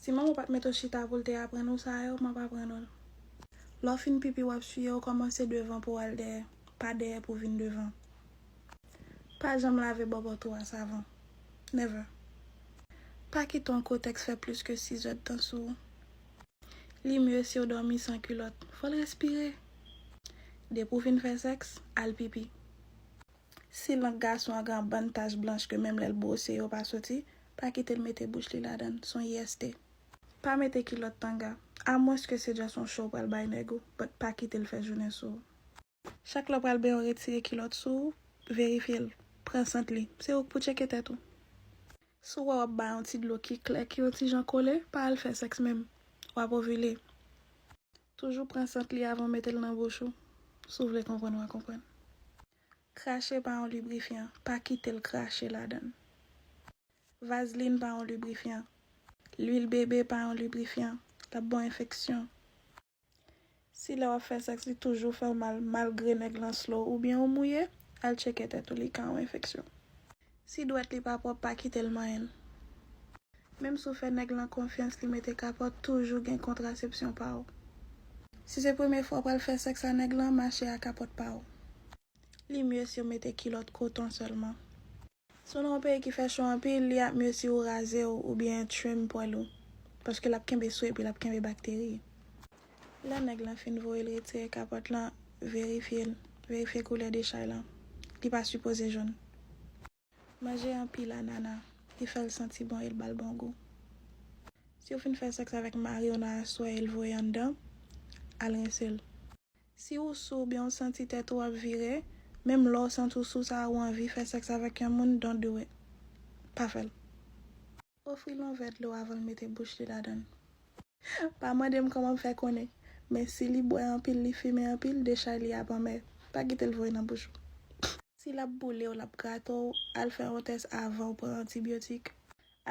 Si manman w pat mete w chita pou l te aprann ou sa yo, m ap aprann ou l. Lè w fin pipi w ap siye w kòmanse devan pou w al dèyè, pa dèyè pou w vin devan. Pa janm lave bòbòt ou a savon. Never. Pa kite yon kotèks fè plis ke 6 èdtan sou ou. Li mye si w dòmi san kilòt. Fò l respire! Depi w fin fè sèks, al pipi. Si lang gason an gen anbann tach blanch ke menm lè l bwose yo pa soti, pa kite l mete bouch li ladan l, son IST. Pa mete kilòt tanga, amwens ke se just yon cho w pral bay nèg ou, but pa kite l fè jounen sou ou. Chak lè w pral benyen w retire kilòt sou ou, verifye l, pran sant li, se ou k pou tcheke tèt ou. Si w wè w ap bay yon ti dlo ki klè ki yon ti jan kole, pa al fè sèks menm, w ap ovile. Toujou pran sant li avan w mete l nan bouch ou, si w vle konprann w a konprann. Krache pa yon librifyan, pa kite l krache ladan l. Vazlin pa yon librifyan. Lwil bebe pa yon librifyan, l ap ba w enfeksyon. Si lè w ap fè sèks li toujou fè w mal malgre nèg lan slow oubyen ou mouye, al tcheke tèt ou li ka yon enfeksyon. Si dwèt li pa pwòp pa kitel manyenl. Menm si w fè nèg lan konfyans li mete kapòt toujou gen kontrasepsyon pa w. Si se premye fwa w pral fè sèks a nèg lan mache a kapòt pa w. Li mye si w mete kilòt koton sèlman. Si w nan yon peyi ki fè cho anpil li ap mye si w raze w oubyen trim pwèl ou paske lap kenbe swe epi lap kenbe bakteri. Lè nèg lan fin voye l retire kapòt lan verifye l verifye koulè dechay lan li pa sipoze jòn. Manje anpil anana li fèl santi bon el bal bon gou. Siw fin fè sèks avèk mariw nan aswè el voye anndan al rense l. Si ou sou oubyen ou santi tèt ou ap vire, menm lè ou santi ou sou sa ou anvi fè sèks avèk yon moun don't do it. Pa fèl. Ofri l yon vè dlo avan l mete bouch li ladan l. Pa mande m kòman m fè konnen, men si li bwè anpil, li fimen anpil, dechay li ap anmè. Pa kite l voye nan bouch ou. Si l ap boule w, l ap grate w, al fè yon tès avan w pran antibyotik.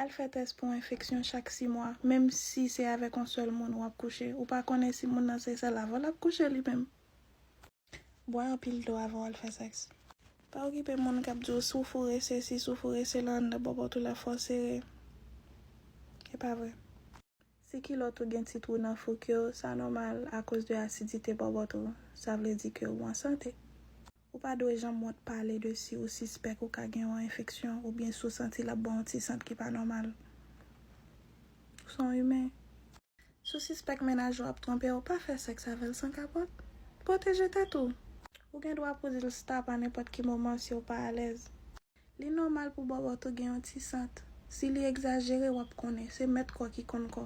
Al fè tès pou enfeksyon chak si mwa, menm si se avèk yon sèl moun w ap kouche. Ou pa konnen si moun nan se sèl avè w l ap kouche li menm. Bwè anpil dlo avan w al fè sèks. Pa okipe moun k ap di w si w foure sesi, si w foure sela anndan bòbòt ou la fò sere. E pa vre. Si kilòt ou gen ti twou nan fouk yo, sa nòmal akoz de asidite bòbòt ou. Sa vle di ke ou an sante. Ou pa dwe janm wont pale de si ou sispèk ou ka gen yon enfeksyon oubyen si w santi l ap ba w yon ti sant ki pa nòmal. Ou se yon imen. Si w sispèk mennaj ou ap twonpe w, pa fè sèks avè l san kapòt. Pwoteje tèt ou. Ou gen dwa pou di l stop a nenpòt ki moman si w pa alèz. Li nòmal pou bòbòt ou gen yon ti sant. Si li egzajere, w ap konnen. Se mèt kò ki konn kò.